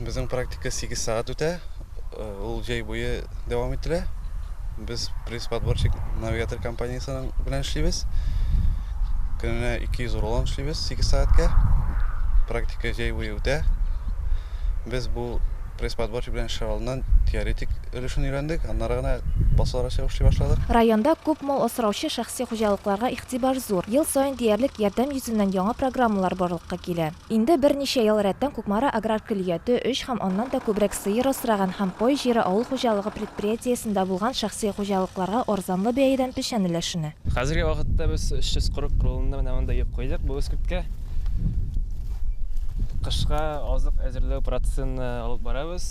Безнең практика 8 сәгать үтә. Ул җәй буе дәвам ителә. Без пресс-подборщик навигатор компаниясенең белән эшлибез. Көненә 200 рулон эшлибез 8 сәгатькә. Практика җәй буе үтә. Без бу пресс-подборщик белән эшләр алдыннан теоретик өлешен өйрәндек, аннары гына басуларга чыгып эшли башладык. Районда күп мал асраучы шәхси хуҗалыкларга игътибар зур. Ел саен диярлек ярдәм йөзеннән яңа программалар барлыкка килә. Инде берничә ел рәттән Кукмара аграр көллияте өч һәм аннан да күбрәк сыер асраган һәм кой җире авыл хуҗалыгы предприятиесендә булган шәхси хуҗалыкларга арзанлы бәядән печән өләшенә. Хәзерге вакытта без 340 кругында менә монда йөк куйдык бу эскерткә. Кышка азык әзерләү процессын алып барабыз.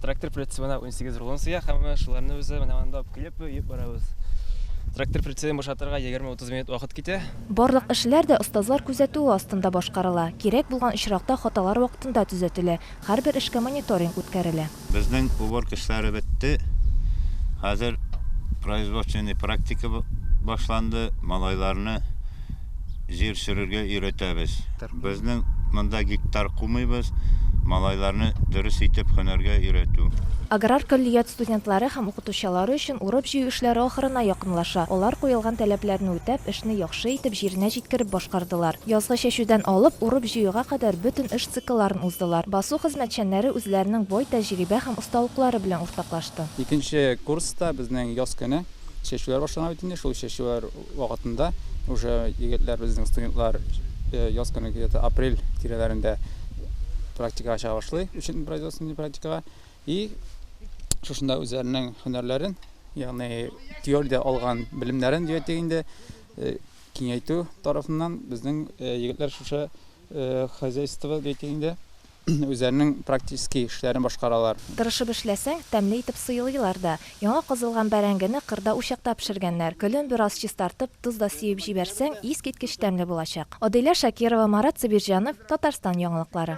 Трактор прицебына унсигез рулон сыя һәм шуларны без менә монда алып килеп йөк барабыз. Трактор прицебын бушатырга егерме-утыз. минут вакыт китә. Барлык эшләр дә остазлар күзәтүе астында башкарыла, кирәк булган очракта хаталар вакытында төзәтелә, һәрбер эшкә мониторинг үткәрелә. Безнең уборка эшләре бетте, хәзер производственный практика башланды, малайларны җир сөрергә өйрәтәбез. Безнең монда гектар кумыйбыз, малайларны дөрес итеп һөнәргә өйрәтү. Аграр көллият студентлары һәм укытучылары өчен урып-җыю эшләре ахырына якынлаша. Алар куелган таләпләрне үтәп, эшне яхшы итеп, җиренә җиткереп башкардылар. Язгы чәчүдән алып, урып-җыюга кадәр бөтен эш циклларын уздылар. Басу хезмәтчәннәре үзләренең бай тәҗрибә һәм осталыклары белән уртаклашты. Икенче курста безнең яз көне чәчүләр башлана бит инде. Шул чәчүләр вакытында уже егетләр безнең студентлар э, яз көне где-то апрель тирәләрендә практикага чыга башлый өчен производственный практикага и шушында үзләренең һөнәрләрен ягъни теориядә алган белемнәрен дияттек инде э, киңәйтү тарафыннан безнең э, егетләр шушы хозяйство дияттек инде Үзләренең практический эшләрен башкаралар. Тырышып эшләсәң, тәмле итеп сыйлыйлар да. Яңа казылган бәрәңгене кырда учакта пешергәннәр. Көлен бераз чистартып, тоз да сибеп җибәрсәң, искиткеч тәмле булачак. Адилә Шакирова, Марат Сабирҗанов, Татарстан яңалыклары.